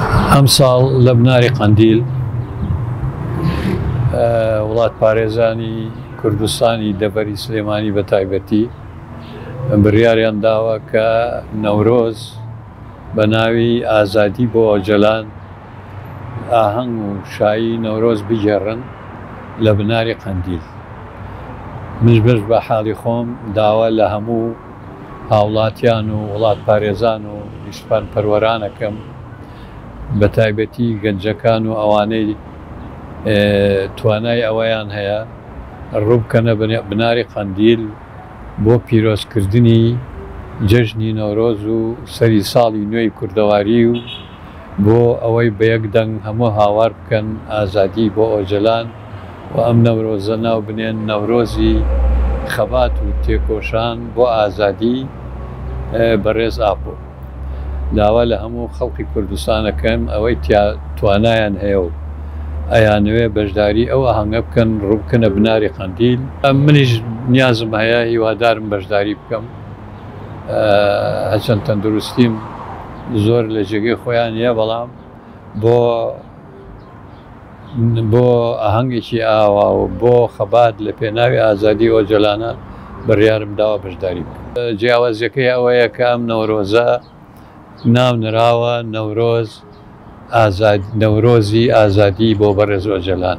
ئەمساڵ لە بناری قەندیل وڵاتپارێزانی کوردستانی دەڤەری سلێمانی بە تایبەتی بڕیاریان داوە کە نەورۆز بە ناوی ئازادی بۆ ئۆجەلان ئاهەنگ و شایی نەورۆز بگێڕن لە بناری قەندیل منش بەش بە حاڵی خۆم داوا لە هەموو هاوڵاتیان و وڵاتپارێزان و نیشتپانپەروەرانەکەم بە تایبەتی گەنجەکان و ئەوانەی توانای ئەوەیان هەیە ڕووبکەنە بناری قەندیل بۆ پیرۆزکردنی جەژنی نەورۆز و سەری ساڵی نوێی کوردەواری و بۆ ئەوەی بە یەک دەنگ هەموو هاوار بکەن ئازادی بۆ ئۆجەلان و ئەم نەورۆزە ناو بنێن نەورۆزی خەبات و تێکۆشان بۆ ئازادی بەڕێز ئاپۆ داوا لە هەموو خەڵقی کوردستان ئەکەم ئەوەی تیا توانایان هەیە و ئەیانەوێ بەشداری ئەو ئاهەنگە بکەن ڕووبکەنە بناری قەندیل. منیش نیازم هەیە هیوادارم بەشداری بکەم هەچەند تەندروستیم زۆر لە جێگەی خۆیان نیە بەڵام بۆ. بۆ ئاهەنگێکی ئاوا و بۆ خەبات لە پێناوی ئازادی ئۆجەلانە بڕیارم داوە بەشداری بکەم. جیاوازیەکەی ئەوەیە کە ئەم نەورۆزە ناو نراوە نەورۆز ئازاد نەورۆزی ئازادی بۆ بەڕێز ئۆجەلان.